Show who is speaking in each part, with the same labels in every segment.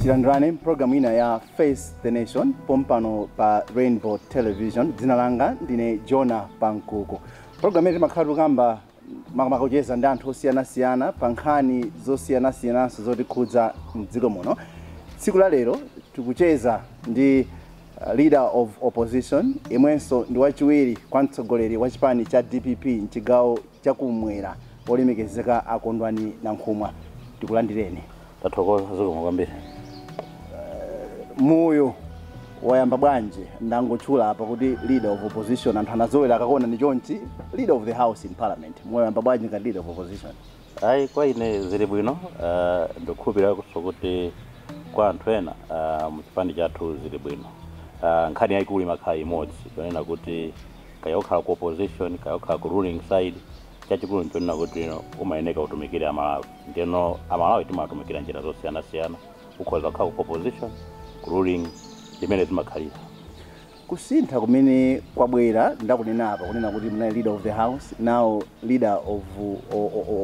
Speaker 1: tilandirane mupulogalamu ina ya face the nation pompano pa rainbow television dzina langa ndine jona pankuku mu pulogalamu imene timakhala tikukamba makamaka kucheza ndi anthu osiyanasiyana pa nkhani zosiyanasiyananso zotikhudza mdziko muno tsiku la lero tikucheza ndi uh, leader of opposition amenenso ndi wachiwiri kwa mtsogoleri wa chipani cha dpp mchigawo chakumwera olemekezeka akondwani nankhumwa tikulandireni tathokoza zikomo kwambiri moyo wayamba bwanji ndangotchula apa kuti leader of opposition anthu anazowera akakuonani chonchi leader of the house in parliament moyo wayamba bwanji ngati leader of opposition ayi kwa ine zili bwino uh, ndikukhulupiriranso kuti kwa anthu ena uh, mchipani chathu zili bwino uh, nkhani yayikulu imakhala imodzi yonena kuti kaya ukhala ku opposition kaya ukhala ku ruling side chachikulu nchonena kuti umayeneka utumikire amalawi ndeno amalawi timawatumikira mnjira zosiyanasiyana ukhoza kukhala ku opposition, ku ruling ndimene zimakhalira. Kusintha kumene kwabwera ndakunena apa kunena kuti munali leader of the house now leader of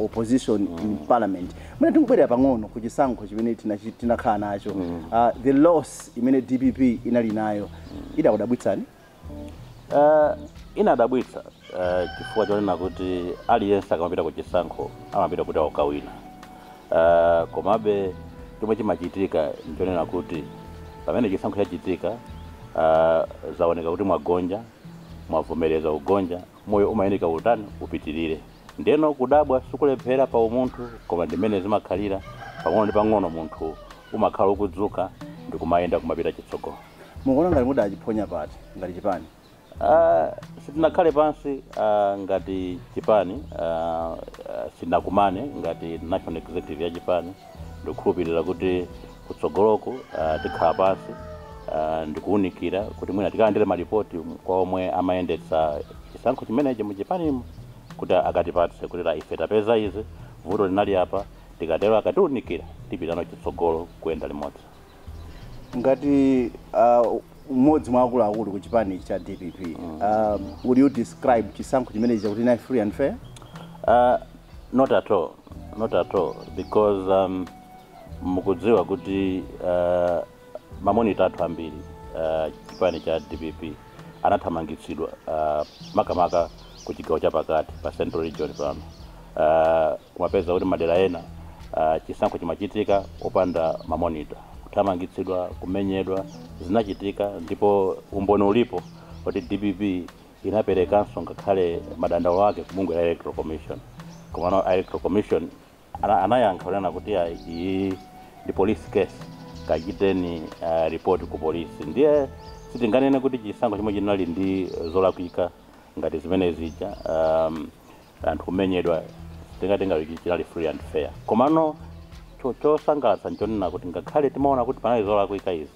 Speaker 1: opposition mm. in parliament mwina tingobwerera pang'ono ku chisankho chimene tinakhala nacho mm. uh, the loss imene dpp inali nayo mm. idakudabwitsani Eh, inadabwitsa eh, chifukwa chonena kuti aliyense akamapita ku chisankho amapita kuti akawine Eh, komabe chomwe chimachitika nchonena kuti pamene chisankho chachitika eh, zaoneka kuti mwagonja mwavomereza kugonja moyo umayenera utani upitirire ndeno kudabwa sikulephera pa umunthu koma ndimene zimakhalira pang'ono ndi pang'ono munthu umakhala ukudzuka ndikumayenda kumapita chitsogolo Mukuona ngati mudachiphonya pati ngati chipani? Ah, sitinakhale pansi ah, ngati chipani ah, ah, sitinakumane ngati national executive ya chipani ndikukhulupirira kuti kutsogoloku ah, tikhala pansi ah, ndikuwunikira kuti mwina tikalandire malipoti kwa omwe amayendetsa chisankho chimenechi mu chipanimo kuti akatipatse kuti ah ife tapeza izi vuto linali apa tikatero akatiwunikira tipitano chitsogolo kuyenda limodzi ngati uh, mmodzi mwa akuluakulu ku chipani cha dpp uh, would you describe chisankho chimenechi kuti chinali free and fair Uh, not at all not at all because um, mukudziwa kuti uh, mamonita athu ambiri uh, chipani cha dpp anathamangitsidwa uh, makamaka ku chigawo chapakati pa central region pano uh, kumapeza kuti madera ena uh, chisankho chimachitika wopanda mamonita kuthamangitsidwa kumenyedwa zinachitika ndipo umboni ulipo kuti dpp inaperekanso ngakhale madandaulo ake ku bungwe la electoral commission komano electoral commission Ana- anayankha kunena kuti "Ayi, iyi ndi police case kachiteni uh, report ku polisi ndiye sitinganene kuti chisankho chomwe chinali ndi zolakwika ngati zimene zija um, anthu kumenyedwa tingatenga kuti chinali free and fair komano cho- chosangalatsa ndi chonena kuti ngakhale timaona kuti panali zolakwika izi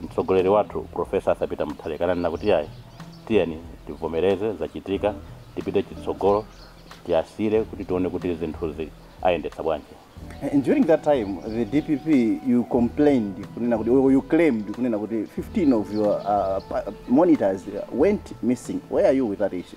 Speaker 1: Mtsogoleri wathu Prof. Arthur Peter Mutharika ananena kuti iyayi tiyeni tivomereze zachitika tipite chitsogolo tiasiyire kuti tione kuti zinthuzi ayendetsa bwanji. And during that time, the DPP, you complained, kunena kuti- or you claimed kunena kuti 15 of your uh, pa- monitors went missing. Where are you with that issue?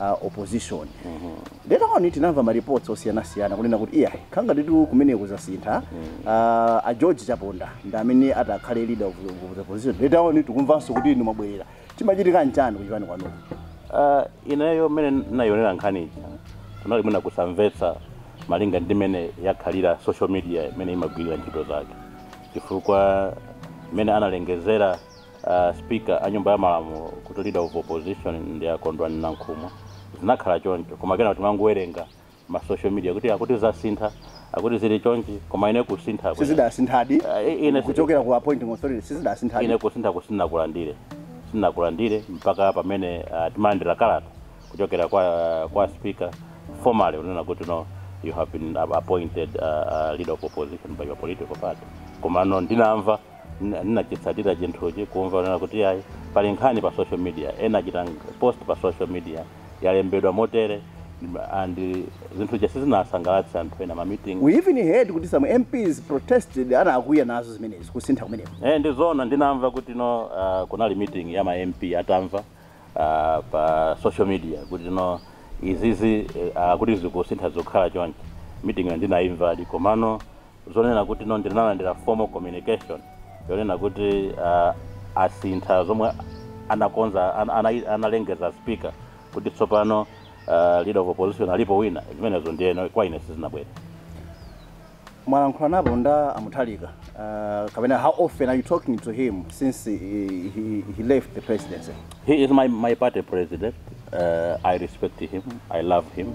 Speaker 1: a opposition later on tinamva ma reports osiyanasiyana kunena kuti iya nkhanga titu kumene kuzasintha Ah, a george chaponda ndi amene atakhale leader of, of the opposition later on tikumvanso kuti inu mwabwerera chimachitika nchani kuchipani kwanuko Ah, ineyo mmene ndinayionera nkhani ija kunali mwina kusamvetsa malinga ndi mmene yakhalira social media imene imagwirira ntchito zake chifukwa mmene analengezera Uh, speaker a nyumba ya malamulo kuti leader of opposition ndi a Kondwani Nankhumwa zinakhala choncho koma kena timangowerenga ma social media kuti akuti zasintha akuti zili chonchi koma ine kusintha kwene- sizidasinthadi Ah, i- ine- kuchokera ku appointing authority sizidasinthadi ine kusinthako sinakulandire sinakulandire mpaka pamene uh, timalandira kalata kuchokera kwa kwa speaker formally kunena kuti no you have been appointed uh, uh, leader of opposition by your political party komano ndinamva Ndinachitsatira chinthuchi kumva kunena kuti iyayi pali nkhani pa social media, ena achita post pa social media yalembedwa motere and zinthu zija sizinawasangalatse anthu ena ma meeting. We even heard kuti some MPs protested anakwiya nazo zimenezi kusintha kumeneku. Eeh ndizoona ndinamva kuti you know kunali meeting ya ma MP atamva pa social media kuti you know izizi akuti zikusintha zikukhala chonchi, meeting yo ndinaimvadi komano zonena kuti no ndinalandira formal communication yonena kuti uh, asintha zomwe anakonza an, ana, analengeza speaker kuti tsopano uh, leader of opposition alipo wina zimenezo ndiyeno kwa ine sizinabwere mwalankhulanapo ndi a Mutharika uh, kapena how often are you talking to him since he, he, he left the presidency he is my, my party president uh, i respect him i love him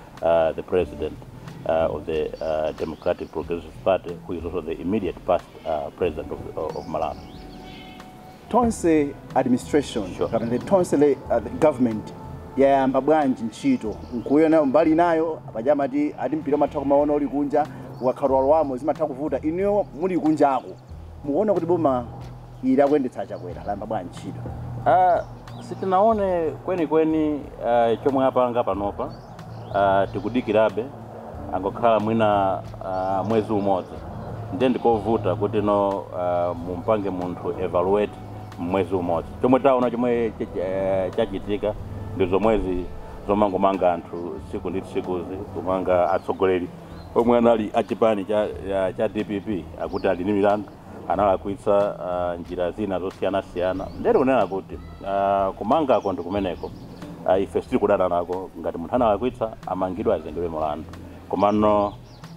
Speaker 1: uh, the president uh, of the uh, Democratic Progressive Party, who is also the immediate past uh, president of, uh, of Malawi. tonse administration Sure. kapena the tonse le, uh, the government yayamba bwanji ntchito mukuyionayo mbali inayo apaja amati ati mpira umatha kumaona uli kunja ukakhala walowamo zimatha kuvuta inuyo muli kunjako mukuona kuti boma ili akuyendetsa a Chakwera layamba bwanji ntchito Ah, sitinaone kwenikweni ah, chomwe apanga panopa ah, tikudikirabe angokhala mwina ah, mwezi umodzi ndiye ndikovuta kuti no ah, mumpange munthu evaluate mwezi umodzi chomwe taona chomwe ch- ch- eh, chachitika ndi zomwezi zomangomanga anthu tsiku ndi tsikuzi kumanga atsogoleri omwe anali achipani cha, ya- cha dpp akuti ali ndi milandu analakwitsa uh, njira zina zosiyanasiyana ndiye kunena kuti uh, kumangako ndi kumeneko uh, ife sitikudana nako ngati munthu analakwitsa amangidwe azengedwe mulandu komano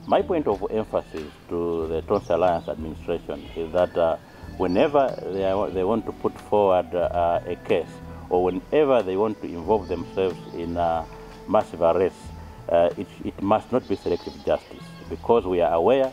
Speaker 1: my point of emphasis to the tonse alliance administration is that uh, whenever they, are, they want to put forward uh, a case or whenever they want to involve themselves in uh, massive arrests uh, it, it must not be selective justice because we are aware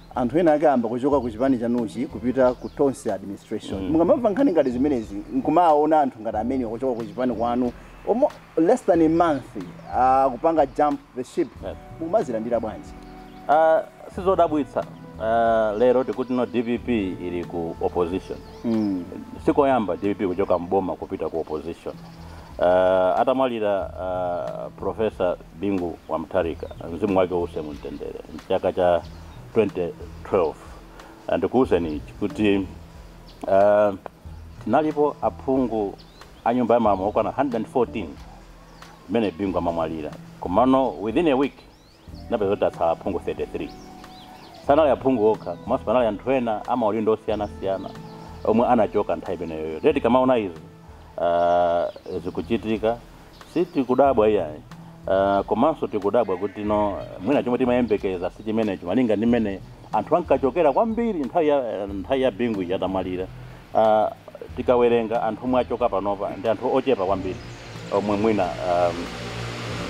Speaker 1: Anthu ena ake ayamba kuchoka ku chipani chanuchi kupita ku Tonse administration. Mukamamva nkhani ngati zimenezi nkumawaona anthu ngati amenewa kuchoka ku chipani kwanu almo less than a month kupanga jump the ship mukumazilandira bwanji? Uh, sizodabwitsa uh, lero tikuti no dpp ili ku opposition mm. sikoyamba dpp kuchoka mboma kupita ku opposition uh, atamwalira uh, professor Bingu wa Mutharika mzimu wake uuse mu mtendere mchaka cha 2012 and ndikuuzeni ichi kuti uh, tinalipo aphungu a nyumba ya malamulo okwana 114 mmene Bingu amamwalira komano within a week tinapeza kuti atsala aphungu 33 sanali aphungu okha komanso panali anthu ena amaudindo osiyanasiyana omwe anachoka nthawi imeneyoyo nde tikamaona izi uh, zikuchitika Sitikudabwa iyayi, uh, komanso tikudabwa kuti no mwina chomwe timayembekeza sichimenecho malinga ndi mmene anthu ankachokera kwambiri nthawi ya nthawi ya Bingu ija atamwalira, uh, tikawerenga anthu omwe achoka panopa ndi anthu ochepa kwambiri omwe mwina um,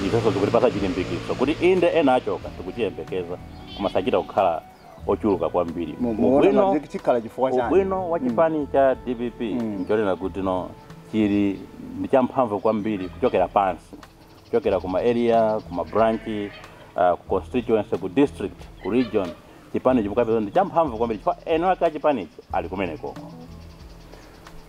Speaker 1: ifenso zikutipatsa chilimbikitso kuti inde ena achoka tikuchiyembekeza koma sachita kukhala ochuluka kwambiri Mu- muona ubwino ngati chik- chikhala chifukwa chani ubwino wa chipani cha dpp Mm. nchonena kuti no chili ndi champhamvu kwambiri kuchokera pansi kuchokera kuma area kuma branch uh, ku constituency ku district ku region chipanichi mukapeza ndi champhamvu kwambiri chifukwa eni ake a chipanichi ali kumenekoko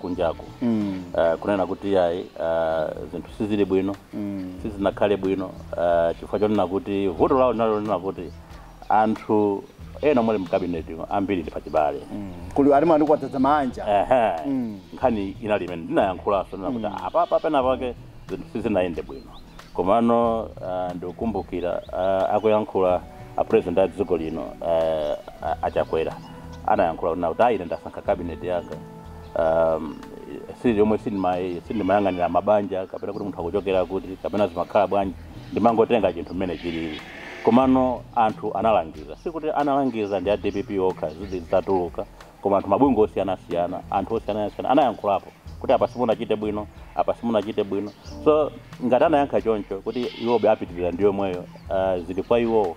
Speaker 1: kunjaku mm. uh, kunena kuti yayi uh, zinthu sizili bwino mm. sizinakhale bwino uh, chifukwa chonena kuti vuto lawo linali lonena kuti anthu ena omwe ali mkabineti ambiri ndi pachibale mm. kuli ena ndi kuwadzadza manja ehe mm. nkhani inali imene ndinayankhulanso kunena kuti mm. apapa pena pake zinthu sizinayende bwino komano uh, ndikukumbukira uh, akuyankhula apresident a dziko lino uh, achakwera anayankhula kuti ayi ndasankha kabineti yanga um, si yomwe sindima- sindimayang'anira mabanja kapena kuti munthu akuchokera kuti kapena zimakhala bwanji ndimangotenga chinthu mmene chilili komano anthu analangiza sikuti analangiza ndi a dpp okha zitatuluka koma anthu mabungwe osiyanasiyana anthu osiyanasiyana anayankhulapo kuti apa simunachite bwino apa simunachite bwino so ngati anayankha choncho kuti iwobe apitirira ndi yomweyo uh, zili kwa iwowo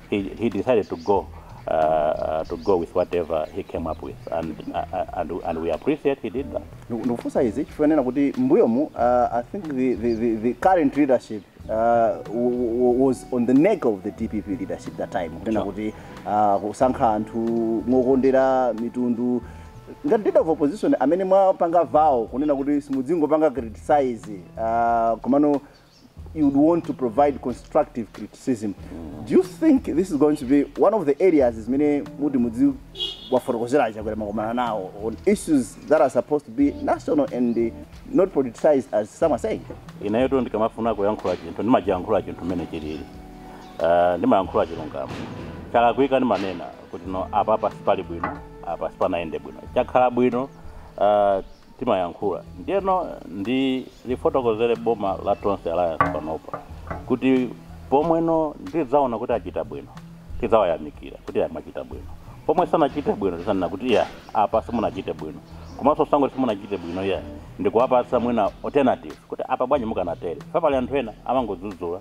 Speaker 1: he, he decided to go uh, uh, to go with whatever he came up with and, uh, uh, and, and we appreciate he did that Ndiku- ndikufunsa izi chifukwa chonena kuti mbuyomu uh, i think the, the, the, the current leadership uh, w- w- was on the neck of the dpp leadership that time kunena kuti uh, kusankha anthu mokondera mitundu ngati leader of opposition amene mwapanga vow kunena kuti simudzingopanga criticize uh, komano you'd want to provide constructive criticism do you think this is going to be one of the areas zimene muti mudziwafotokozera achakwera mukakumana nawo on issues that are supposed to be national and uh, not politicized as some are saying inetu ndikamafuna kuyankhula chinthu ndimachiyankhula chinthu mmene chilili Eh, ndimayankhula chilungamo chalakwika ndimanena kuti no apapa sipali bwino apa sipanayende bwino chakhala bwino eh, timayankhula ndiyeno ndilifotokozere boma la Tonse Alliance panopa kuti pomwe tidzaona kuti achita bwino tidzawayamikira kuti yayi mwachita bwino pomwe sanachite bwino tidzanena kuti yayi apa simunachite bwino komanso osangoti simunachite bwino yayi ndikuwapatsa mwina alternative kuti apa bwanji mukanatere chifukwa pali anthu ena amangodzudzula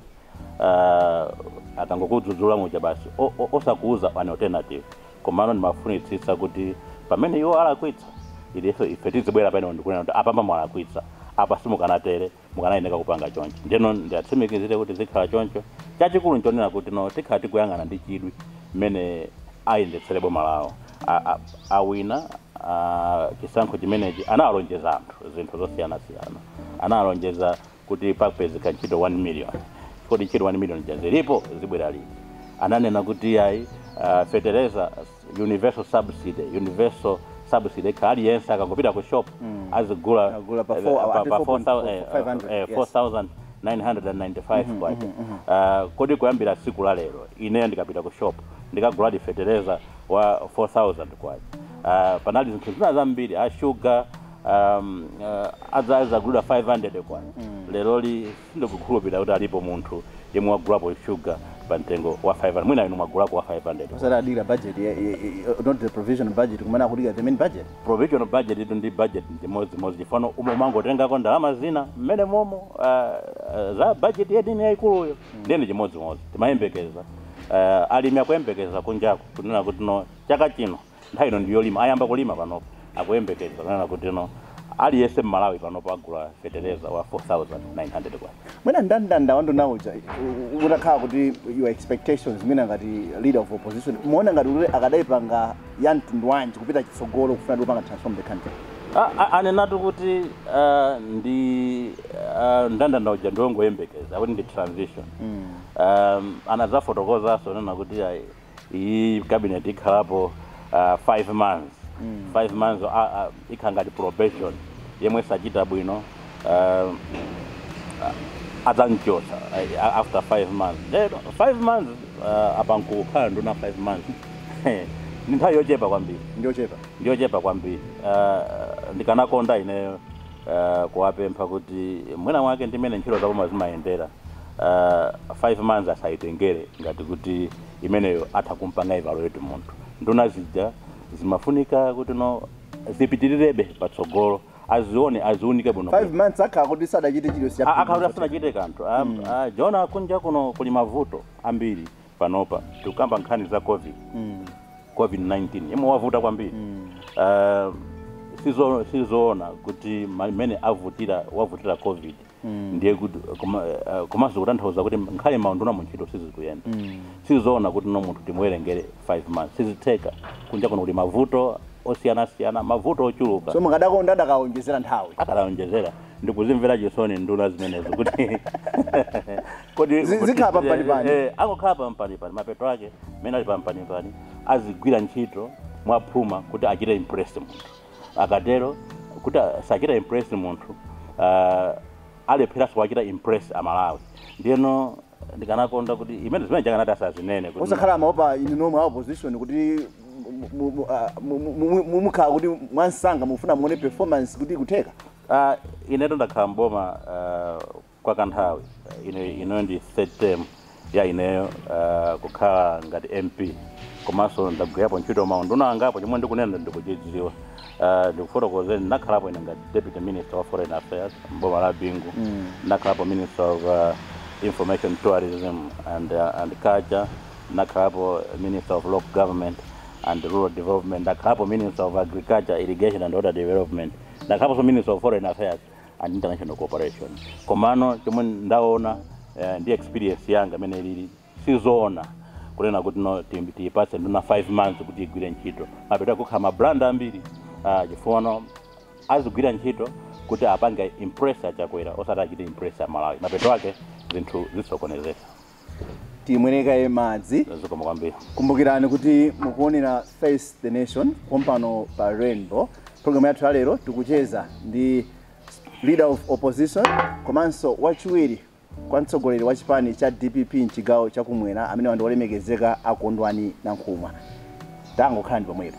Speaker 1: uh, akangokudzudzula muja basi o- o- osakuuza an alternative Komano ndimafunitsitsa kuti pamene iwo alakwitsa, ife tizibwera pamenepo ndi kunena kuti, Apapa mwalakwitsa. Apa simukanatere. Mukanayenera kupanga chonchi. Ndiyeno ndiatsimikizire kuti zikhala choncho. Chachikulu nchonena kuti no tikhala tikuyang'ana ndi chidwi mmene ayendetsere boma lawo. A, a, awina, a, chisankho chimenechi, anawalonjeza anthu zinthu zosiyanasiyana. Anawalonjeza kuti pakupezeka ntchito 1 million kodi ntchito 1 million zija zilipo zibwera liti ananena kuti yayi uh, fertilizer universal subsidy universal subsidy ikhala aliyense akangopita ku shop Mm. azigula azigula pa eh, four- pa- ati pa four 4,000, eh, point- 500, eh, yes. 4995 Mhm, kwacha mhm, mhm. Ah, kodi kuyambira tsiku la lero ineyo ndikapita ku shop ndikaguladi fertilizer wa 4000 kwacha Ah, panali zinthu zina zambiri ashuga um, uh, azagulidwa 500 kwa mm. leroli sindikukhulupirira kuti alipo munthu yemwe wagulapo shuga pa mtengo wa 500 mwina inu mwagulako wa 500 osati adikira budget yeah, yeah, yeah, not the provision budget koma akudikira the main budget provision budget ijatu ndi budget ndi chimodzimodzi chifano umo umangotengako ndalama zina mmene momo uh, uh, za budget yedini yayikuluyo mm. ndiye ndi chimodzimodzi timayembekeza uh, alimi akuyembekeza kunjako kunena kuti no chaka chino Nthawi ino ndi yolima, ayamba kulima panopa. Akuyembekeza kunena kuti no aliyense m'Malawi panopa agula fetereza wa K4,900. Mwina mndandanda wa nduna uja u- utakhala kuti your expectations mwina ngati leader of opposition mumaona ngati kuti akadaipanga ya mtundu wanji kupita chitsogolo kufuna kuti ipange transform the country A- a- anenatu kuti ah, ndi ah, mndandanda uja ndiongoyembekezera kuti ndi transition um, anazafotokozanso nena kuti ayi iyi cabinet ikhalapo uh, five months mm. five months uh, uh, ikhala ngati probation yemwe sachita bwino uh, adzamchotsa uh, after five months eh, five months uh, apa munthu kukhala nduna five months ni nthawi yochepa kwambiri ndiochepa ndiochepa kwambiri uh, ndikanakonda ineyo uh, kuwapempha kuti mwina mwake ndi mmene ntchito zaboma zimayendera uh, five months asayitengere ngati kuti imeneyo atha kumpanga evaluate munthu nduna zija zimafunika kuti no zipitirirebe patsogolo azione aziunike bwino 5 months akhala kuti sadachite chilichonse Eh akhala asanachite kanthu Am- ah, Joab kunja kuno kuli mavuto ambiri panopa tikukamba nkhani za covid Mm. covid-19 yemwe wavuta kwambiri Mm. uh, sizo- sizoona kuti ma- mmene avutira wavutira covid Mm. ndiye kuti koma- eh, komanso kutanthauza kuti ngakhale maunduna mu ntchito sizikuyenda Mm. sizoona kuti no munthu timuwerengere 5 months sizitheka kunja kuno kuli mavuto osiyanasiyana mavuto ochuluka so mukadakonda adakaonjezera nthawi akadaonjezera ndikuzimvera chisoni nduna zimenezo kuti Kodi Zi- zikhala pa mpani pani. Eh, angokhala pa mpani pani mapeto ake mene ali pa mpani pani azigwira ntchito mwaphuma kuti achite impress munthu akatero kuti a- sachita impress munthu ah, alepheranso kuwachita impress amalawi ndiyeno ndikanakonda kuti imene zimenezo akanati asazinene kuti- osakhala amawopa inu nomwe a opposition kuti mu- mu- mu- ah, mu- mu- mu- mu- mukhala kuti mwansanga mufuna muone performance kuti ikutheka Ah, ineto ndakhala mboma ah, kwa kanthawi ineyo, ino ndi third term ya ineyo uh, kukhala ngati mp komanso ndagwirapo ntchito maunduna angapo chomwe ndikunena ndikuchidziwa uh, ndikufotokozeni ndinakhalapo ine ngati deputy minister wa foreign affairs mboma la bingu mm. ndinakhalapo minister of uh, information tourism and, uh, and culture ndinakhalapo minister of local government and rural development ndinakhalapo minister of agriculture irrigation and water development ndinakhalaponso minister of foreign affairs and international cooperation komano chomwe ndaona eh, ndi experience yanga imene ilili sizoona kunena kuti no ti- tiyipatse nduna 5 months kuti igwire ntchito mapeto ake akhala ma blunder ambiri ah, chifukwano azigwira ntchito kuti apange impress a Chakwera osati achite impress amalawi mapeto ake zinthu zisokonezeka timwere kaye madzi zikomo kwambiri kumbukirani kuti mukuonera face the nation pompano pa rainbow programu yathu ya lero tikucheza ndi leader of opposition komanso wachiwiri kwa mtsogoleri wa chipani cha dpp mchigawo chakumwera amene ndi olemekezeka a Kondwani Nankhumwa tangokhalani pomwepo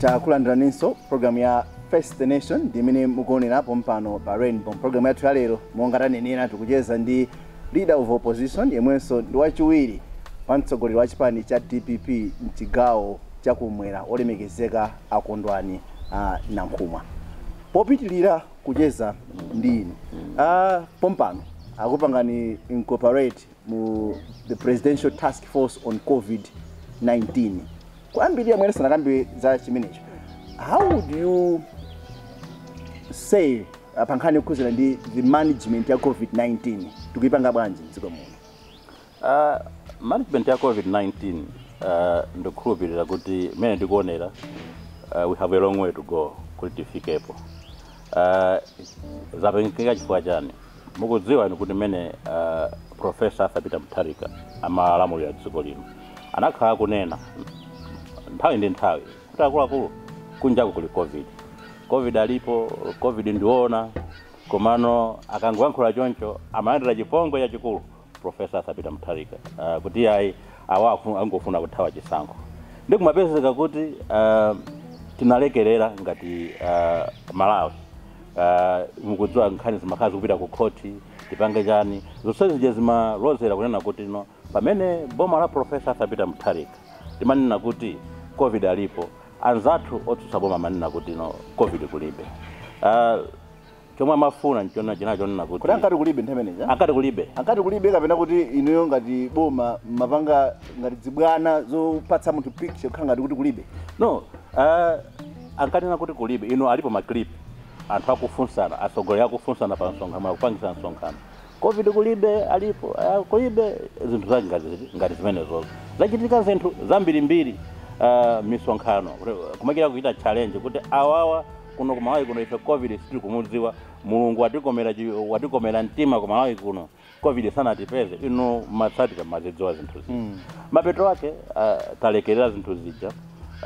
Speaker 1: takulandiraninso programu ya face the nation ndi imene mukuonera pompano pa rainbow programu yathu ya lero monga tanenera tikucheza ndi leader of opposition yemwenso ndi wachiwiri kwa mtsogoleri wa chipani cha dpp mchigawo chakumwera olemekezeka a Kondwani uh, Nankhumwa popitilira kucheza ndi inu ah, pompano akupangani incorporate mu the presidential task force on covid-19 koma mwina tisanakambe zambiri za chimenecho, how would you say uh, pankhani yokhudzana ndi the management ya covid-19 tikuyipanga bwanji mdziko muno Aaa management ya covid 19 aaa ndikukhulupilira kuti mmene ndikuonera aaa we have a long way to go kuti tifikepo aaa zapangika, chifukwa chani mukudziwa inu kuti mmene aaa professor Arthur Peter Mutharika amalamulira dziko lino anakhala akunena nthawi ndi nthawi kuti akuluakulu kunjaku kuli covid covid alipo covid ndiona komano akangoyankhula choncho amalandira chipongwe chachikulu profesa Arthur Peter Mutharika uh, kuti ayi awa afu- angofuna kuthawa chisankho ndi kumapezeka kuti uh, tinalekerera ngati uh, malawi uh, mukudziwa nkhani zimakhala zikupita ku khoti tipange chani zonse zija zimalozera kunena kuti no pamene boma la profesa Arthur Peter Mutharika limanena kuti covid alipo anzathu otsutsa boma amanena kuti no covid kulibe uh, chomwe amafuna nchonena chinali chonena kuti kuti ankati kulibe nthawi imeneyi eh? ankati kulibe ankati kulibe kapena kuti inuyo ngati boma mapanga ngati zibwana zopatsa munthu picture kukhala ngati kuti kulibe no uh, ankanena kuti kulibe ino alipo maclip anthu akufunsana atsogoleri akufunsana pamsonkhano akupangisa msonkhano covid kulibe alipo uh, kulibe zinthu zake ngati, ngati zimenezozo zachitika zinthu zambirimbiri uh, misonkhano kumakira kuchita challenge kuti awawa kuno ku malawi kuno ife covid sitikumudziwa mulungu watikomera chi- watikomera mtima ku malawi kuno covid sanatipeze inu mumatsatira mumazidziwa zinthu zija Mm. mapeto ake ah, talekerera zinthu zija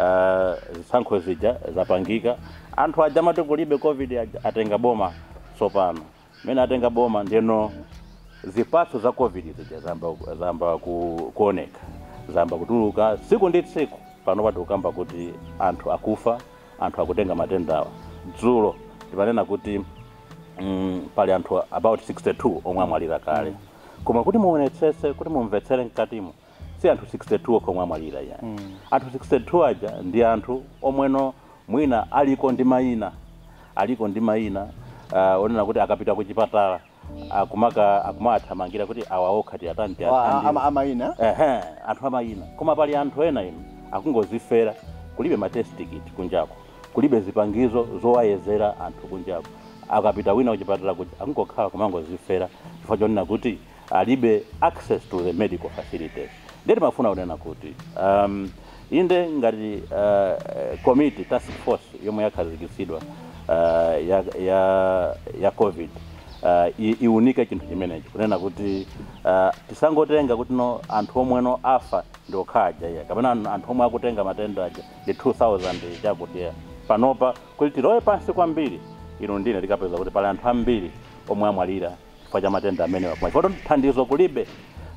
Speaker 1: ah, zisankho zija zapangika anthu aja amati kulibe covid aja atenga boma tsopano Mmene atenga boma ndeno zipatso za covid zija zayamba zayamba ku, kuoneka zayamba kutuluka tsiku ndi tsiku panopa tikukamba kuti anthu akufa anthu akutenga matendawa dzulo timanena kuti mm, pali anthu about 62 omwe amwalira kale koma kuti muonetsetse kuti mumvetsere mkatimo si anthu 62 okha omwe amwalira ya mm. anthu 62 aja ndi anthu omweno mwina aliko ndi mayina aliko ndi mayina uh, onena kuti akapita ku chipatala akumaka akumathamangira kuti awa okha tiyatani tiyatani amayina ehe anthu amayina koma pali anthu ena ino akungozifera kulibe ma test kit kunjako kulibe zipangizo zowayezera anthu kunjako akapita wina kuchipatala uku akungokhala kumangozifera chifukwa chonena kuti alibe access to the medical facilities ndiye timafuna kunena kuti um, inde ngati uh, committee task force yomwe yakhazikitsidwa uh, ya, ya, ya covid uh, i- iunike chinthu chimenechi kunena kuti uh, tisangotenga kuti no anthu omweno afa ndi okha aja iyayi kapena an- anthu omwe akutenga matenda aja ndi 2000 chakutiyo panopa kuti tilowe pansi kwambiri inu ndiye tikapeza kuti pali anthu ambiri omwe amwalira chifukwa cha matenda amenewa koma chifukwa choti thandizo kulibe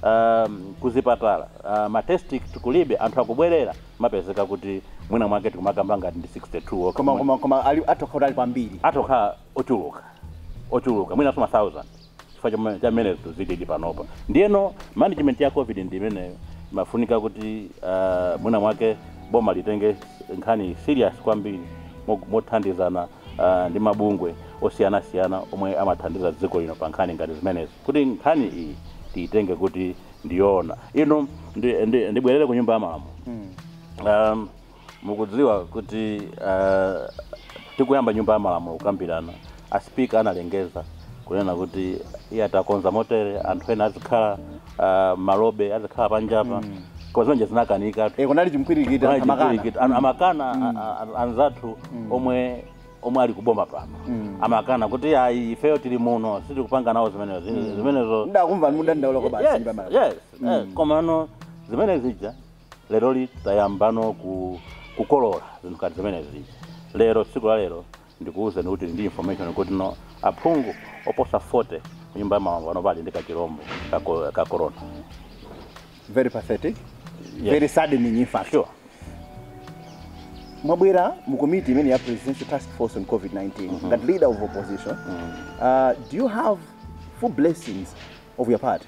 Speaker 1: um, kuzipatala uh, ma test kulibe anthu akubwerera mupezeka kuti mwina mwake tikumakamba ngati ndi 62 okha. koma koma koma ali atokhala ali kwambiri atokhala ochuluka ochuluka mwinanso ma 1000 chifukwa chama- cha mmene zinthu zilili panopa ndiyeno management ya covid ndi imeneyo imafunika kuti uh, mwina mwake boma litenge nkhani serious kwambiri mo- mothandizana uh, ndi mabungwe osiyanasiyana omwe amathandiza dziko lino pa nkhani ngati zimenezi kuti nkhani iyi tiyitenge kuti ndi yoona ino ndi- ndi- ndibwerere ku nyumba ya malamulo um, mukudziwa kuti uh, tikuyamba nyumba ya malamulo kukambirana a sipika analengeza kunena kuti iye atakonza motere anthu ena azikhala ah, malobe azikhala panjapa koma zimene zija zinakanika Eh, kunali chipwirikiti anthu amakana Chipwirikiti. An- amakana a- a- a- anzathu omwe omwe ali kuboma pano amakana kuti ayi ifeyo tili muno sitikupanga nawo zimenezo Zine- zimenezo ndakumva mukudandaula kwa basi Yes, nyumba mara. yes, eh, komano zimene zija lero li tayambano ku kukolola zinthu ngati zimene zija lero tsiku la lero Ndikuuzeni kuti tili ndi information kuti no aphungu oposa 40 ku nyumba ya malamulo panopa ali ndi kachilombo ka, ko- ka corona. very pathetic Yes. very saddening in fact Sure. mwabwerera mu committee imene ya presidential task force on covid-19 ngati leader of opposition uh, do you have full blessings of your party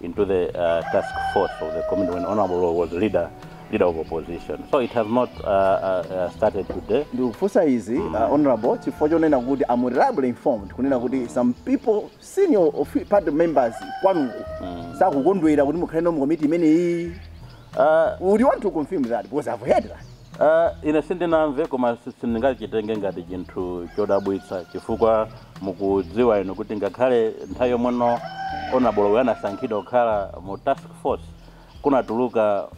Speaker 1: into the uh, task force of the committee when Honorable was leader leader of opposition. So it has not uh, uh, uh started today. Ndikufunsa izi uh, mm. honorable chifukwa chonena kuti I'm reliably informed kunena kuti some people senior of party members kwanuko mm. sakukondwera kuti mukhale no mu committee imeneyi. Uh, would you want to confirm that because I've heard that? Uh, ine sindinamve koma sindingachitenge ngati chinthu chodabwitsa chifukwa mukudziwa inu kuti ngakhale nthawi yomweno Honourable Lowe anasankhidwa kukhala mu task force kunatuluka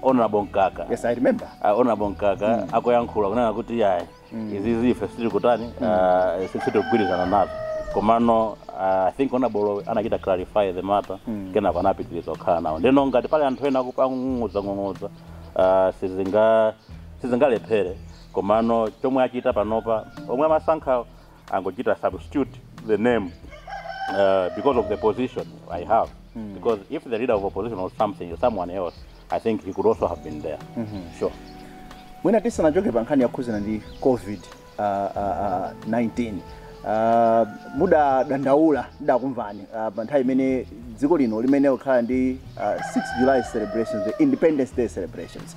Speaker 1: Honourable Mkaka yes, I remember. Uh, Honourable Mkaka mm. akuyankhula kunena kuti yayi mm. izizi ife sitikutani mm. uh, sitikugwirizana nazo komano uh, i think Honourable Lowe anachita clarify the matter mm. kenako anapitiriza kukhala nawo ndeno ngati pali anthu ena akung'ung'udzang'ung'udza uh, sizinga sizingalephere komano chomwe achita panopa omwe amasankhawo angochita substitute the name uh, because of the position i have mm. because if the leader of opposition was something someone else i think he could also have been there mm -hmm. sure mwina tisanachoke pa nkhani yokhudzana ndi covid uh, uh, uh, 19 uh, mudadandaula ndidakumvani uh, pa nthawi imene dziko lino limene likukhala ndi uh, 6 july celebrations the independence day celebrations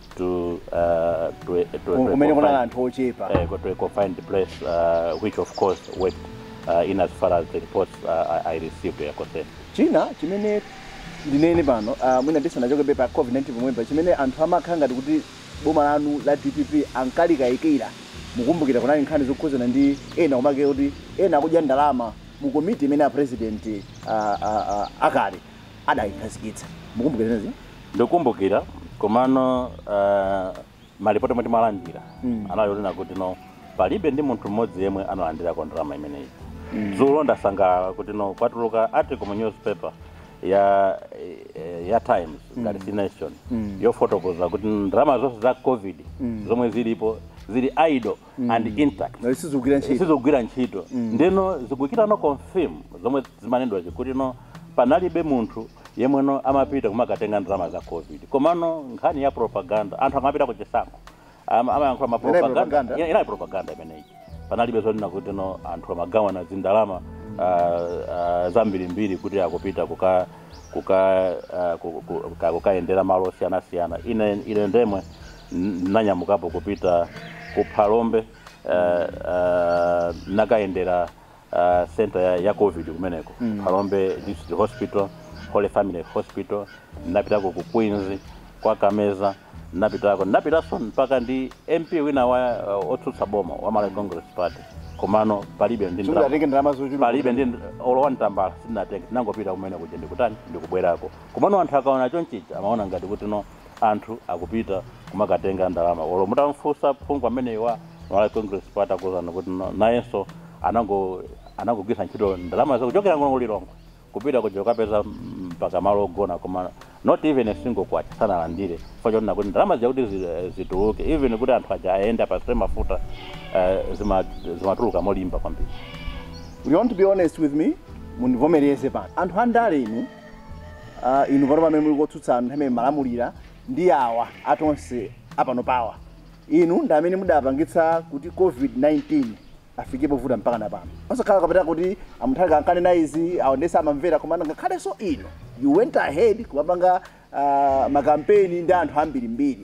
Speaker 1: to uh, to a, to a, to a kumene kunali confined, anthu ochepa uh, go to a confined place, uh, which of course went well, in as far as the reports uh, I, I received were concerned. china chimene ndinene pano ah, mwina ndisanachoke pa covid-19 pomwepa chimene anthu amakhala ngati kuti boma lanu la dpp ankalikayikira mukumbukira kunali nkhani zokhudzana ndi ena kumati kuti ena akudya ndalama mu komiti imene a president ah, ah, ah, akale adayikhazikitsa. Mukumbukira zimenezo? Ndikumbukira, komano ah, malipoti omwe timalandira Mm. anali onena kuti no palibe ndi munthu mmodzi yemwe analandirako ndalama imeneyi dzulo ndinasangalala kuti no kwatuluka article mu newspaper ya eh, ya times ngati si nation Mm. yofotokoza kuti ndalama zonse za covid Mm. zomwe zilipo zili idle and intact Nayo sizikugwira ntchito. sizogwira ntchito ndeno zikungochita confirm zomwe zimanenedwa zija kuti no panalibe munthu yemwe no amapita kumakatenga ndalama za covid komano nkhani ya propaganda anthu amapita ku chisankho ama- amayankhula ma Inali propaganda. propaganda Ina- inali propaganda imeneyi panalibe zonena kuti no anthu amagawana zindalama ah, ah, zambirimbiri kuti akupita kuka kuka ah, ku- ku- kuka- kukayendera malo osiyanasiyana ine ine ndi yemwe Ndinanyamukapo kupita ku Phalombe nakayendera center ya Covid kumeneko, Phalombe District Hospital, Holy Family Hospital, ndinapitako ku Queens kwa Kameza ndinapitako, ndinapitanso mpakana ndi MP wina wa otsutsa boma wa Malawi Congress Party komano palibe ndi ndalama, Sungatenge ndalama zochuluka. palibe ndi olo wani tambala sindinatenge, tinangopita kumenekuja ndikutani ndikubwerako komano anthu akaona chonchija amaona ngati kuti no anthu akupita kumakatenga ndalama olo mutamfunsa phungu ameneyi wa Malawi Congress Party akuuzani kuti no- nayenso anango anangogwiritsa ntchito ndalama zake kuchokera kuno ku Lilongwe kupita kuja kukapeza mpaka malo ogona koma not even a single kwacha sanalandire chifukwa chonena kuti ndalama zija kuti zi- eh, zituluke even kuti anthu aja ayende apatsidwe mafuta eh, zima- zimatuluka molimba kwambiri you want to be honest with me mundivomereze pano anthu andale inu Ah, inu pano pamene muli kotsutsa anthu amene amalamulira ndi awa a Tonse apanopawa inu ndi amene mudapangitsa kuti covid-19 ifike povuta mpakana pano osakhala kapena kuti a Mutharika ankanena izi aonetsa amamvera koma ngakhalenso inu you went ahead kumapanga ah, makampeni ndi anthu ambirimbiri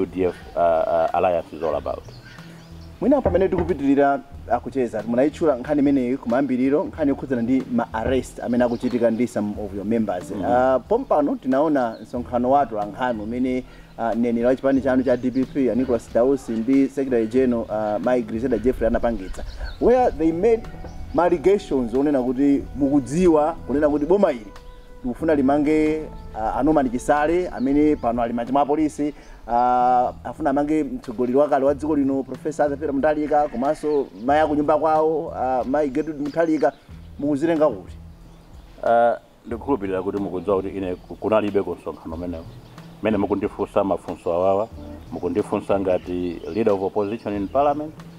Speaker 1: udf alliance is all about mwina pamene tikupitirira kucheza munayitchula nkhani imeneyi kumayambiriro nkhani yokhudzana ndi ma arrest amene akuchitika ndi some of your members mm -hmm. uh, pompano tinaona msonkhano wa atolankhani umene uh, mneneri wa chipani chanu cha dpp uh, nicholas dausi ndi secretary general uh, mai grezelder jeffrey anapangitsa where they made ma allegations onena kuti mukudziwa kunena kuti boma ili likufuna limange uh, a Norman Chisale amene pano ali m'manja mwa apolisi uh, afuna amange mtsogoleri wakale wa dziko lino Professor Arthur Peter Mutharika komanso mayi akunyumba kwawo uh, mayi Gertrude Mutharika mukuziwerenga kuti Eh, ndikukhulupirira kuti mukudziwa kuti ine ku- kunalibe kumsonkhano umenewo mmene mukundifunsa mafunso awawa mukundifunsa ngati leader of opposition in parliament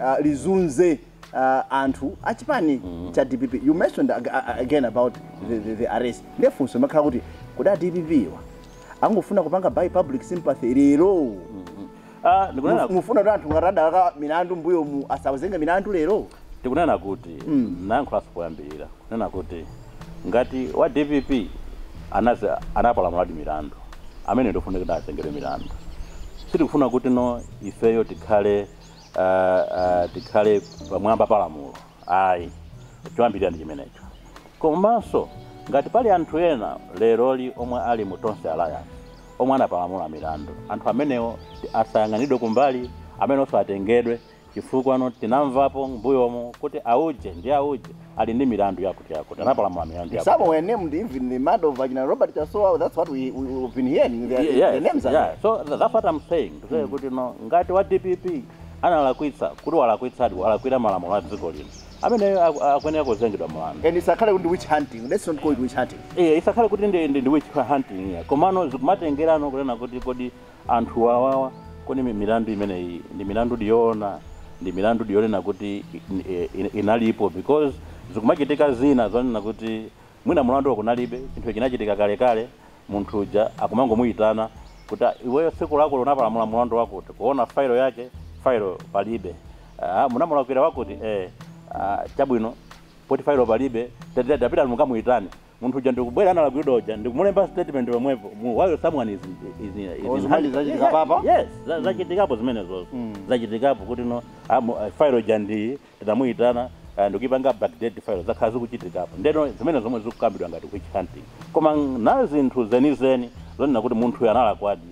Speaker 1: uh, lizunze uh, anthu a chipani cha dpp you mentioned ag a- again about the, the, the arrest nde funso limakhala kuti kodi a dpp wa akungofuna kupanga by public sympathy lero Ah, ndikunena Muf- mufuna kuti anthu ngati adalakwa milandu mmbuyomu asawazenge milandu lero ndikunena kuti ndayankhulanso poyambirira kunena kuti ngati wa dpp anazi anapalamuladi milandu amene ndi ofunika kuti azengedwe milandu sitikufuna kuti no ifeyo tikhale tikhale pamwamba pa lamulo ayi choyambirira ndi chimenecho komanso ngati pali anthu ena leroli omwe ali mu tonse alliance omwe anapalamula milandu anthu amenewo asayang'anidwe kumbali amenewonso atengedwe chifukwanso tinamvapo mmbuyomo kuti auje ndi auje ali ndi milandu yakuti yakuti anapalamula milandu yakuti Some were named even the murder of a Robert Chasowa. That's what we, we, we've been hearing. Their, Ye- yes, their names are yeah. there. so tha- that's what I'm saying to say kuti no ngati wa DPP analakwitsa kuti walakwitsadi walakwira malamulo a dziko lino ameneyo aku- akuyenera kuzengedwa mlandu And it's a kind of witch hunting. Let's not call it witch hunting. Eh, isakhale kuti ndi ndi- ndi witch hunting iyayi komano zikumatengerano kunena kuti kodi Anthu awawa kodi milandu imeneyi ndi milandudi yoona? Ndi milandudi yonena kuti inalipo? Because zikumachitika zina zonena kuti mwina mulanduwo kunalibe, chinthucho chinachitika kalekale, munthu uja akumangomuyitana kuti iweyo tsiku lakuti unapalamula mulandu wakuti, kuona file yake, file palibe. Aaa munamulakwira wakuti? Eeh aah chabwino poti file palibe tapita ukamuyitane. munthu uja ndikubwera analakwiridwa uja ndikumulemba statement pomwepo mu- while someone is, is, in- is Oh, in zimene hand- zachitikapo? Yeah, yes za- zachitikapo zimenezo Mm. zachitikapo kuti no amu- eh, file uja ndiye tinamuyitana eh, ndikuyipanga backdate file zakhala zikuchitikapo ndeno zimene zomwe zikukambidwa ngati witch hunting koma pa zinthu zenizeni zonena kuti munthuyo analakwadi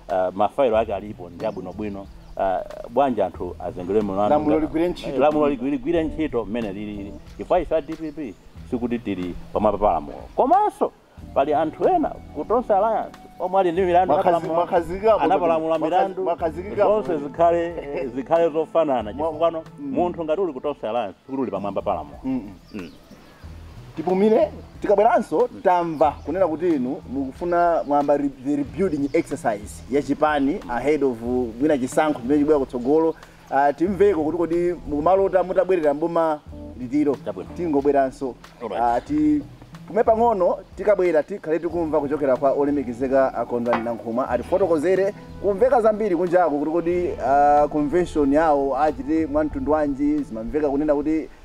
Speaker 1: uh, mafailo ake alipo ndi abwinobwino uh, basi anthu azengedwe mlandu Lamulo ngati- ligwire ntchito. Eh, lamulo ligwi- ligwire ntchito mmene lilili chifukwa ife a dpp sikuti tili pamwamba pa lamulo komanso pali anthu ena ku tonse alliance omwe ali ndi milandu Mwakazi- anapalamula- mwakazikapo anapalamula kuti- milandu mwakazikapo zonse kuti- zikhale eh, zikhale zofanana Mwa- chifukwanso munthu ngati uli ku tonse alliance sikuti uli pamwamba pa lamulo Mm-mm. Mm. tipumire tikabweranso tamva kunena kuti inu mukufuna muyambe re- the rebuilding exercise ya chipani ahead of uh, mwina chisankho chimene chibwera kutsogolo uh, timveko kuti kodi mukumalota mutabwerera mboma liti. Chabwino. tibweranso Alright. Ah, tipume pang'ono tikabwera tikhale tikumva kuchokera kwa olemekezeka a kondwani nankhumwa atifotokozere kukumveka zambiri kunjako kuti kodi ah, convention yawo achita mwa mtundu wanji zimamveka kunena kuti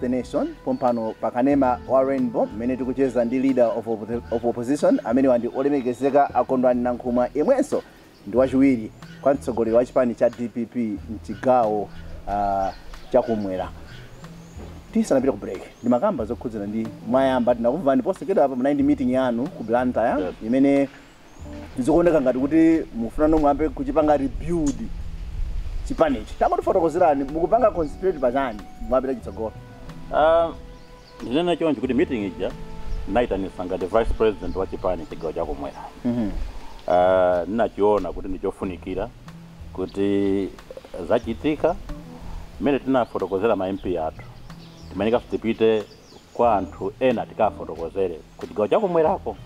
Speaker 1: The Nation pompano pa kanema wa Rainbow mmene tikucheza ndi leader of, oppo- of opposition amenewa ndi olemekezeka a kondwani nankhumwa yemwenso ndi wachiwiri kwa mtsogoleri wa chipani cha dpp mchigawo uh, chakumwera tisanapita ku break ndimakamba zokhudzana ndi mwayamba tinakumvani posachedwa apa munali ndi meeting yanu ku blantyre imene zikuoneka ngati kuti mukufunano muyambe kuchipanga rebuild chipanichi tatifotokozerani mukupanga concentrate pachani mwapita chitsogolo Ah, ndinene choncho kuti meeting ija ndinayitanisa ngati vice president wa chipani chigawo chakumwera Ah, ndinachiona kuti ndichofunikira kuti zachitika mmene tinafotokozera ma mp athu timayenekaso tipite kwa anthu ena tikaafotokozere kuchigawo chakumwerako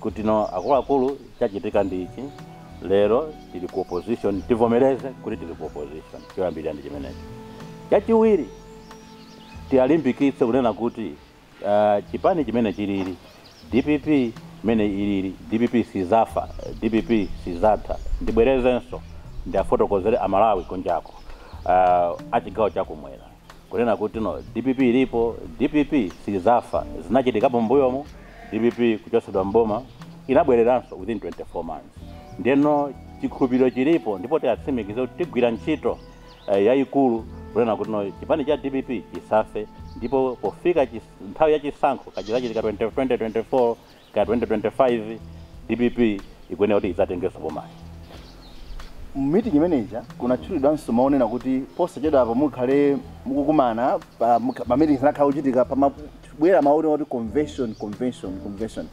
Speaker 1: kuti no akuluakulu chachitika ndi ichi lero tili ku opposition tivomereze kuti tili ku opposition choyambirira ndi chimenecho chachiwiri tialimbikitse kunena kuti uh, chipani chimene chilili dpp imene ilili dpp sizafa dpp sizatha ndibwerezenso ndiafotokozere amalawi kunjako uh, achigawo chakumwera Kunena kuti no dpp ilipo, dpp sizafa, zinachitikapo m'mbuyomu dpp kuchotsedwa m'boma inabwereranso within 24 months. Ndeno chikhulupiliro chilipo ndipo tiatsimikize kuti tigwira ntchito yayikulu kunena kuti no chipani cha dpp chisafe ndipo pofika nthawi ya chisankho kaya chizachitika 2024 Kaya 2025 dpp ikuyenera kuti idzatengenso bomali. Mu meeting imene ija kunatchulidwanso mawu onena kuti posachedwapa mukhale mukukumana pa mukha- ma meetings akukhala akuchitika pamabwera mawu onena kuti convention convention convention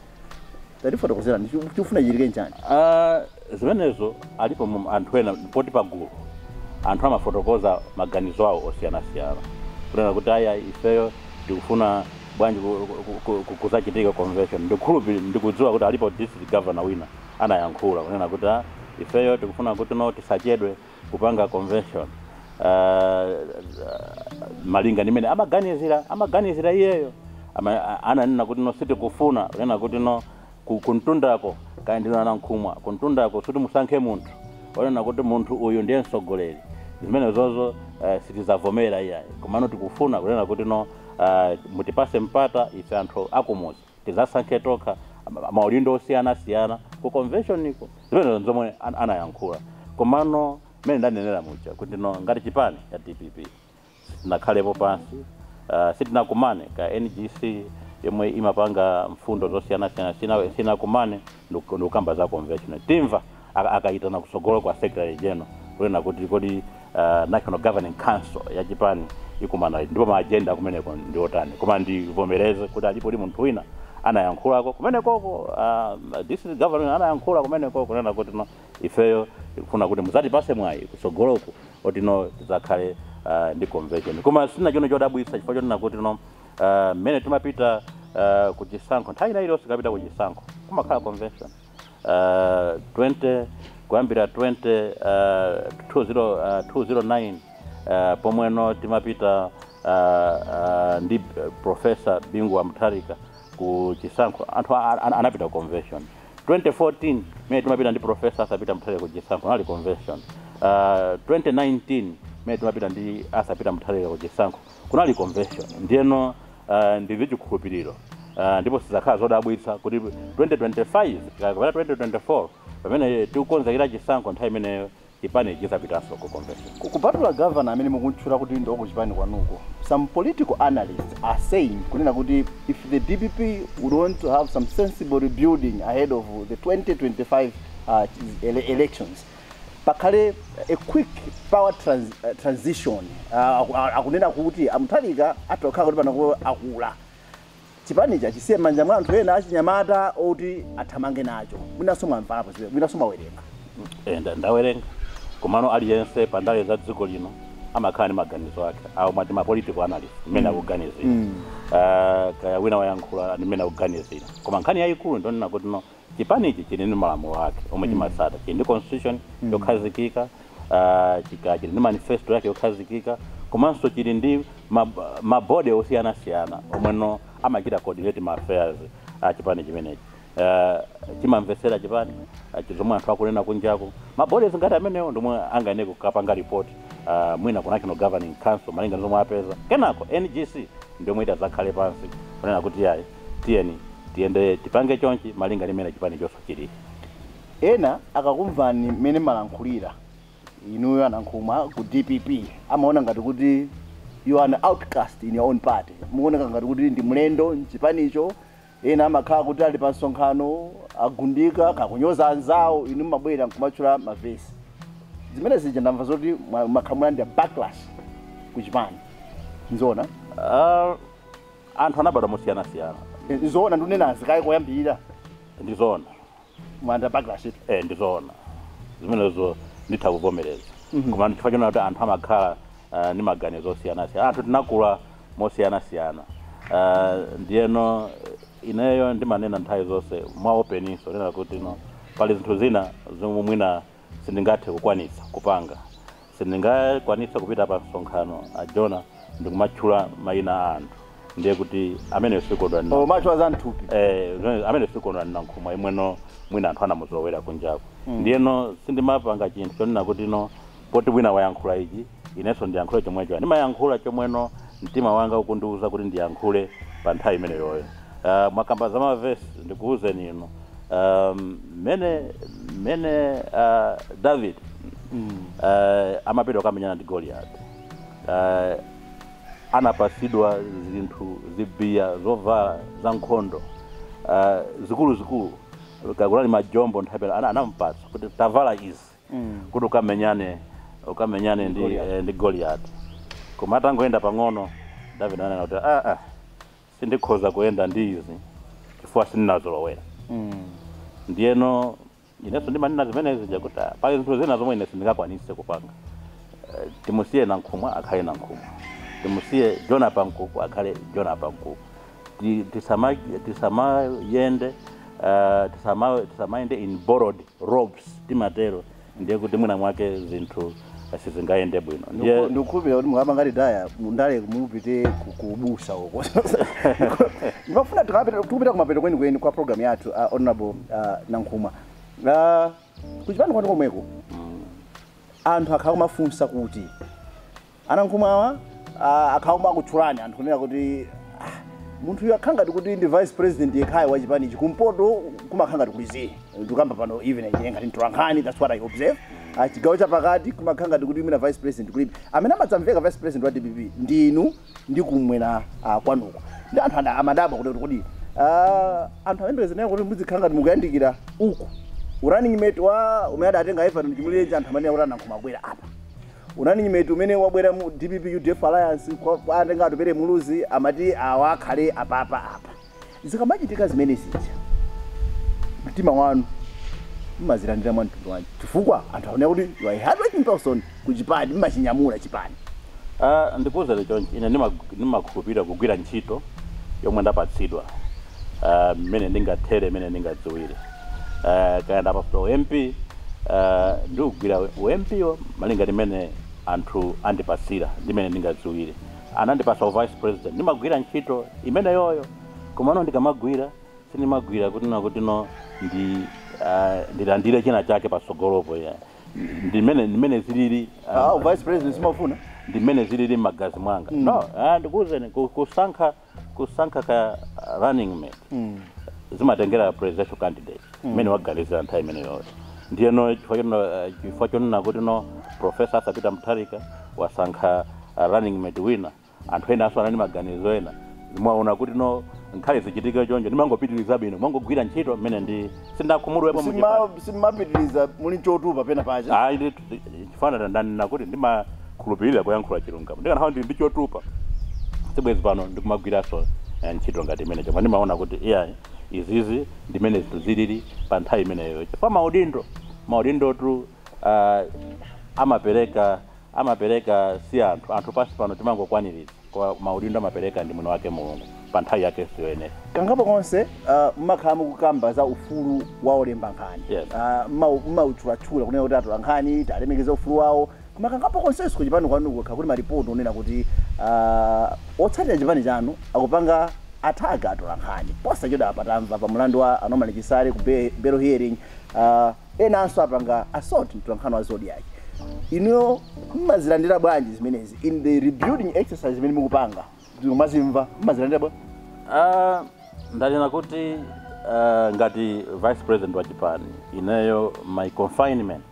Speaker 1: tatifotokozerani chikufuna chichitike nchani Ah, zimenezo alipo anthu ena poti pagulu anthu amafotokoza maganizo awo osiyanasiyana kunena kuti ayayi ifeyo tikufuna bwanji kuzachitika convention ndikukhulupi ndikudziwa kuti alipo district governor wina anayankhula kunena kuti ah, ifeyo tikufuna kuti no tisachedwe kupanga convention uh, malinga ndi mmene amaganizira amaganizira iyeyo ananena kuti no sitikufuna kunena kuti no Ku kumtundako kaya ndinu a Nankhumwa kumtundako kuti musankhe munthu onena kuti munthu uyu ndiye mtsogoleri zimenezozo eh, sitizavomera iyayi komano tikufuna kunena kuti no eh, mutipase mpata ife anthu akumuzi tizasankhe tokha ma- maudindo osiyanasiyana ku conventioniko zimenezo nzomwe an- anayankhula komano mmene ndanenera muja kuti no ngati chipani cha dpp sitinakhalepo pansi, sitinakumane kaya NGC yomwe imapanga mfundo zosiyanasiyana sitinakumane ndikukamba za convention timva akaitana kutsogolo kwa secretary general kunena kuti kodi national governing council ya chipani ikumana liti ndipo ma agenda akumeneko ndi otani koma ndivomereze kuti alipodi munthu wina anayankhulako kumenekoko uh, district governor anayankhula kumeneko kunena kuti no ifeyo tikufuna kuti mudzatipase mwayi kutsogoloku oti no tidzakhale uh, ndi convention koma si chinthu chodabwitsa chifukwa chonena kuti no uh, mmene timapita uh, ku chisankho nthawi ina iliyonse tikapita ku chisankho kumakhala convention uh, 20 kuyambira 20 uh, 20, uh, 209 uh, pomwe no timapita uh, uh, ndi uh, profesa bingu wa mutharika ku chisankho anthu a- a- anapita convention 2014 mene timapita ndi professor Arthur Peter Mutharika ku chisankho kunali convention. Uh, 2019 mene timapita ndi Arthur Peter Mutharika ku chisankho kunali convention. Ndiyeno uh, ndi ndi chikhulupiriro uh, ndipo sizakhala zodabwitsa kuti 2025 kapena 2024 pamene tikukonzekera chisankho nthawi imeneyo Chipanichi chidzapitanso ku convention. Kupatula governor amene mukumtchula kuti ndi wa ku chipani kwanuko, some political analysts are saying kunena kuti if the dpp would want to have some sensible rebuilding ahead of the 2025 elections, pakhale a quick power transition. Akunena kuti a Mutharika atha kukhala kuti panopo akula. Chipanichi achisiye m'manja mwa anthu ena achinyamata oti athamange nacho. Mwinanso mwamvapo zimenezi, mwinanso mwawerenga. Eeh nda ndawerenga komano aliyense pa ndale za dziko lino amakhala ndi maganizo ake awo ma ma political analyst mmene akuganizira aah kaya wina wayankhula ndi mmene akuganizira koma nkhani yayikulu ndiyonena kuti no Chipanichi chili ndi malamulo ake omwe chimatsata, chili ndi constitution yokhazikika, ah, chika- chili ndi manifesto yake yokhazikika, komanso chili ndi ma- ma body osiyanasiyana omweno amachita coordinate ma affairs a chipani chimenechi. Ah, chimamvetsera chipani ah, chi- zomwe anthu akunena kunjaku. Ma bodies ngati amenewo ndi omwe angayenere kukapanga report ah, mwina ku National Governing Council malinga ndi zomwe apeza. Kenako NGC ndi yomwe idzakhale pansi kunena kuti yayi Tiyeni tiyende tipange chonchi malinga ndi mmene chipani chathu chilili. Ena akakumvani mmene mmalankhulira inuyo a Nankhumwa ku dpp amaona ngati kuti you are an outcast in your own party. Mukuoneka ngati kuti ndi mlendo m'chipanicho. Ena amakhala kuti ali pa msonkhano agundika kaya kunyoza anzawo, inu mmabwera nkumatchula ma verse. Zimene zija ndamva zoti mwa- mwakhala mukulandira backlash ku chipani. Nzoona? Ah, anthu anabadwa mosiyanasiyana ndizoona ndinene kaye koyambirira ndizoona mwati backlash eh ndizoona zimenezo nditha kuvomereza koma chifukwa chonena kuti anthu amakhala ah, ndi maganizo osiyanasiyana anthu tinakula mosiyanasiyana Ah, ndiyeno eh, ineyo ndimanena nthawi zonse mwa openinso nena kuti no pali zinthu zina zomwe mwina sindingathe kukwanitsa kupanga Sindingakwanitse kupita pa msonkhano, a Jonah, ndikumatchula maina a anthu ndiye kuti ameneyo si Kondwani Nankhumwa. Umatchula za mthupi. Eh, zimene- ameneyo si Kondwani Nankhumwa yemweno mwina anthu anamuzolowera kunjako. Ndiyeno sindimapanga chinthu chonena kuti no poti wina wayankhula ichi inenso ndiyankhule chomwecho. Ndimayankhula chomweno Mtima wanga ukundiuza kuti ndiyankhule pa nthawi imeneyoyo. Uh, mukakamba za mavesi, ndikuwuzeni inu um, mmene mmene uh, David uh, amapita kukamenyana ndi Goliath uh, anapasidwa zinthu zambiri zovala za nkhondo uh, zikuluzikulu kaya ndi majombo penapake anamupatsa kuti tavala izi kuti ukamenyane ukamenyane ndi Goliath. eh, ndi Goliati koma atangoyenda pang'ono David ananena kuti ah ah sindikhoza kuyenda ndi izi chifukwa sindinazolowere ndiyeno inenso ndimanena zimenezi kuti ah, pali zinthu zina zomwe ine sindingakwanise kupanga Eh, timusiye nankhumwa akhale nankhumwa timusiye joda pankuku akhale joda pankuku Ti- tisama- tisamayende uh, tisama- tisamayende in borrowed robes timatero ndiye kuti mwina mwake zinthu sizingayende bwino ndiye ndikukhulupirira kuti mukapanga retire mundale mupite ku- kubusa uko ndimafuna tikapita tikupita kumapeto kwenikweni kwa programu yathu uh, honorable uh, nankhumwa uh, kuchipani kwanu komweko anthu akhala akumafunsa kuti Anankhumwawa akhala akumakutchulani anthu kunena kuti ah, munthuyu akhala ngati kuti ndi vice president yekhayo wa chipanichi kumpoto kumakhala ngati kuli zii ndikukamba pano even ine ngati mtolankhani that's what i observe Ah, chigawo chapakati kumakhala ngati kuti mwina vice president kulibe amene amadzamveka vice president wa dpp ndi inu ndi kumwera ah, kwanuko ndi anthu ada- amadabwa kuti kodi ah, anthu amayembekezera kuti muzikhala ngati mukuyandikira ku u running mate koma mmene adatenga everton chimulirenji anthu amanena kuti anankhumwa akwera apa running mate mmene wabwera mu dpp udf alliance awa, awa atenga atupere muluzi amati awa akhale apapa apa zikamachitika zimene zija mtima wanu mmazilandira mwa mtundu wanji chifukwa anthu amaona kuti you are a hardworking person ku chipani mmachinyamula chipani Ah, ndikuwuzeni chonchi ine ndima- ndimakhulupirira kugwira ntchito yomwe ndapatsidwa ah, mmene ndingathere mmene ndingadziwire eh, kaya ndapasidwa u mp eh, ndiugwira u mp-wo malinga ndi mmene anthu andipasira ndi mmene ndingadziwire anandipasa u vice president ndimagwira ntchito imeneyoyo komano ndikamagwira sindimagwira kuti na kuti no ndi eh, ndilandire china chake patsogolopo ya ndi mmene ndi mmene zilili eh, Ah, u vice president simafuna ndi mmene zilili m'magazi mwanga no ah, ndikuwuzeni ku- kusankha kusankha ka running mate mm. zimatengera presidential candidate mmene mm. waganizira nthawi imeneyoyo ndiyeno chifukwa chono- eh, chifukwa chonena kuti no profesa athapita mutharika wasankha eh, running mate wina anthu ena nawonso anali ndi maganizo ena mwaona kuti no nkhale zichitike chonchi ndimangopitiriza ndimangogwira ntchito mmene ndi sindakhumudwepo ndimapitiriza muli chotupa pena pake Ndi- chifukwa nda- ndanena kuti ndimakhulupirira kuyankhula chilungamo ndikanakhala ndili ndi chotupa sibwezi pano ndikumagwiranso eh, ntchito ngati imene chomwe ndimaona kuti iyayi izizi ndimene zinthu zilili pa nthawi imeneyo chifukwa maudindo maudindotu ah, amapereka amapereka si anthu anthu pansi pano timangokwaniritsa koma maudindo amapereka ndi mwini wake Mulungu pa nthawi yakenso yoyenera. kangapo konse uh, mmakhala mukukamba za ufulu wa olemba nkhani Yes. uh, mmau- mmautchulatchula kunena kuti atola nkhani talemekeza ufulu wawo koma kangapo konsenso ku chipani kwanu kukhala kuti maripoti onena kuti uh, otsatira chipani chanu akupanga attack atola nkhani posachedwapa tamva pa mulandu wa a Norman Chisale ku be- bail hearing uh, enanso apanga assault mtolankhani wa Zodiak inuyo mmazilandira bwanji zimenezi in the rebuilding exercise imene mukupanga mukazimva mmazilandira bwanji Ah, ndanena kuti ah, ngati vice president wa chipani ineyo my confinement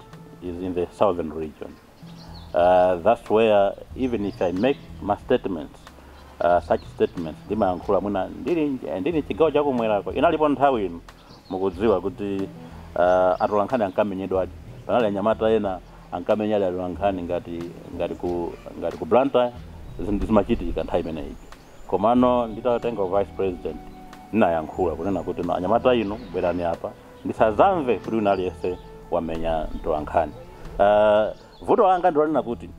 Speaker 1: is in the southern region Uh, that's where even if I make my statements uh, such statements ndimayankhula mwina ndili ndili mchigawo chakumwerako inalipo nthawi inu mukudziwa kuti uh, atolankhani ankamenyedwadi panali anyamata ena ankamenyadi atolankhani ngati ngati ku ngati ku Blantyre zinthu zimachitika nthawi imeneyi komano nditatenga u vice president ndinayankhula kunena kuti no anyamata inu bwerani apa ndisadzamve kuti wina aliyense wamenya mtolankhani uh, vuto langa ndilonena kuti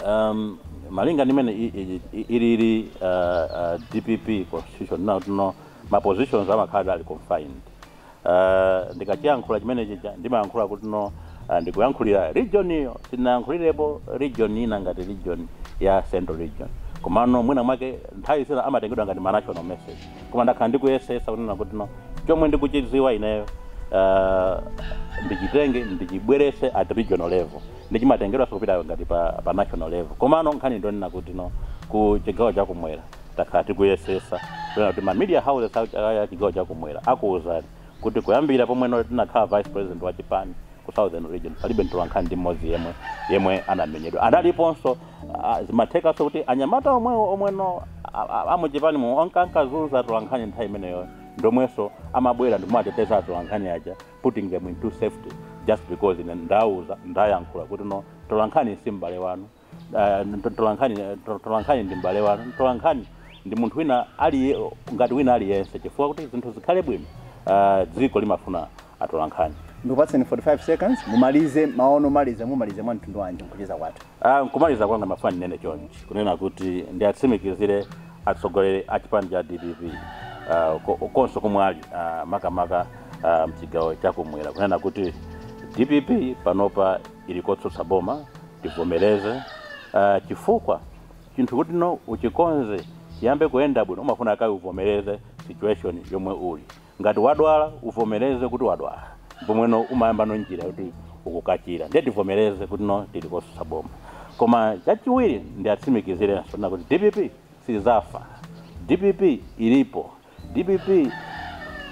Speaker 1: um, malinga ndimene i- i- i- ilili uh, uh, dpp constitution ndi yonena kuti no ma positions amakhaladi ali confined uh, ndikachiyankhula chimenechi cha- ndimayankhula kuti no uh, ndikuyankhulira region iyo sinayankhulirepo region ina ngati region ya central region komano mwina mwake nthawi zina amatengedwa ngati ma national message koma ndakhala ndikuyesesa kunena kuti no chomwe ndikuchidziwa ineyo uh, ndichitenge ndichibwerese at regional level ndiye chimatengedwanso kupita ngati pa, pa national level komano nkhani ndonena kuti no ku chigawo chakumwera takhala tikuyesesa kunena kuti ma media houses a chigawo chakumwera akuwuzani kuti kuyambira pomwe no tinakhala vice president wa chipani ku southern region palibe mtolankhani ndi mmodzi yemwe yemwe anamenyedwa ndiponso Ah, zimathekanso kuti anyamata omwewo omweno amuchipanimo onka ankazunza atolankhani nthawi imeneyo ndomwenso amabwera ndikumateteza atolankhani aja putting them into safety just because ine ndauza ndayankhula kuti no tolankhani si m'bale wanu Ah, to- tolankhani to- tolankhani ndi m'bale wanu tolankhani ndi munthu wina ali ngati wina aliyense chifukwa kuti zinthu zikhale bwino ah, dziko limafuna atolankhani. Ndikupatseni 45 seconds mumalize mawu anu omaliza mumalize mwa mtundu wanji mkucheza kwathu? Ah, nkumaliza kwanga ndimafuna ndinene chonchi kunena kuti ndiatsimikizire atsogoleri a chipani cha dpp ah, ko- konse komwe ali ah, makamaka ah, mchigawo chakumwera kunena kuti dpp panopa ili kotsutsa boma tivomereze ah, chifukwa chinthu kutino uchikonze chiyambe kuyenda bwino umafuna kaye uvomereze situation yomwe uli Ngati wadwala uvomereze kuti wadwala pomweno umayambano njira yoti ukachire ndiye tivomereze kutino tili kotsutsa boma koma chachiwiri ndiatsimikizirenso kunena kuti dpp sidzafa dpp ilipo dpp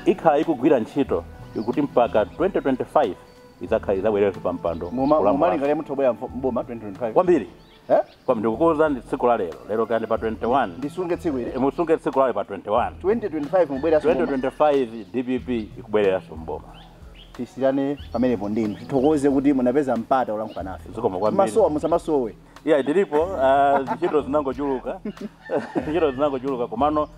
Speaker 1: ikhala ikugwira ntchito kuti mpaka 2025 idzakhala idzabwererenso pampando Muma- kulamula mumalingalira mutha kubwera mfo- m'boma 2025 kwambiri Eh? Koma ndikukuuzani tsiku la lero. Lero kaya ndi pa 21. Ndisunge tsiku ili. Eh, musunge tsiku la lero pa 21. 2025 mubwereranso m'boma. 2025 DPP ikubwereranso m'boma. Tisiyane pamenepo ndithu. Tithokoze kuti munapeza mpata wolankhula nafe. Zikomo kwambiri. Masowa musamasowe. Yeah, ndilipo uh, ntchito zinangochuluka. Ntchito zinangochuluka komano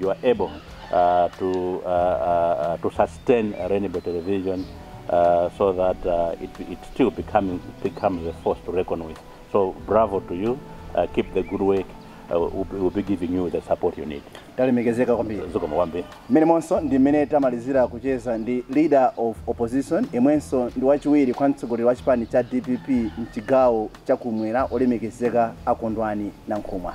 Speaker 1: you are able uh, to, uh, uh, uh, to sustain Rainbow Television uh, so that uh, it, it still becoming, it becomes a force to reckon with. So bravo to you. Uh, keep the good work. Uh, we'll, be- we'll be giving you the support you need. talemekezeka kwambiri Zikomo kwambiri. mmenemonso ndi mmene tamalizira kucheza ndi leader of opposition yemwenso ndi wachiwiri kwa mtsogoleri wa chipani cha dpp mchigawo chakumwera olemekezeka a Kondwani Nankhumwa